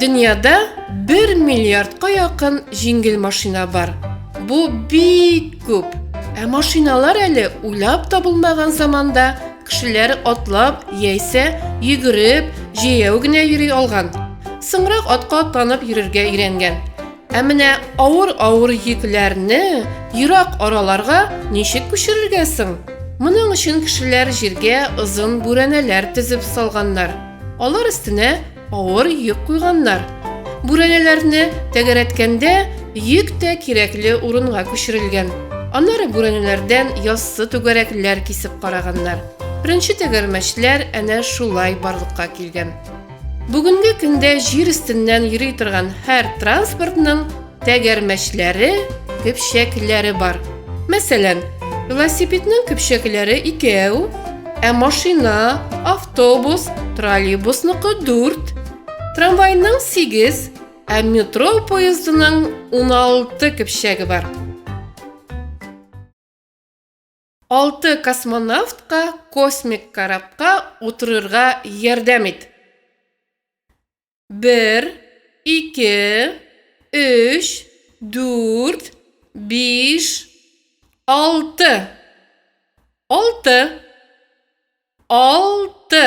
Дөньяда 1 миллиардка якын җиңел машина бар. Бу бик күп. Ә машиналар әле уйлап табылмаган заманда кешеләр атлап яисә йөгереп, җәяү генә йөри алган. Соңрак атка атланып йөрергә өйрәнгән. Ә менә авыр-авыр йөкләрне ерак араларга ничек күчерергә соң? Моның өчен кешеләр җиргә озын бүрәнәләр төзеп салганнар. Алар өстенә авыр йөк куйганнар. Бүрәнәләрне тәгәрәткәндә, йөк тә кирәкле урынга күчерелгән. Аннары бүрәнәләрдән яссы түгәрәкләр кисеп караганнар. Беренче тәгәрмәчләр әнә шулай барлыкка килгән. Бүгенге көндә җир өстеннән йөри торган һәр транспортның тәгәрмәчләре, көпчәкләре бар. Мәсәлән, велосипедның көпчәкләре икәү, ә машина, автобус, троллейбусныкы дүрт, трамвайның сигез, ә метро поездының уналты көпчәге бар. Алты космонавтка космик корабка утырырга ярдәм ит. Бер, ике, өч, дүрт, биш, алты. Алты. Алты.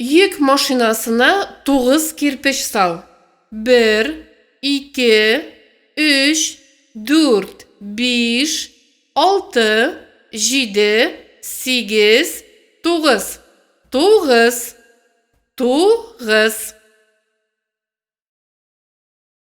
Йөк машинасына тугыз кирпеч сал. Бер, ике, өч, дүрт, биш, алты, җиде, сигез, тугыз. Тугыз. Тугыз.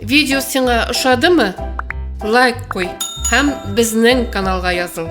Видео сиңа ошадымы? Лайк куй һәм безнең каналга языл.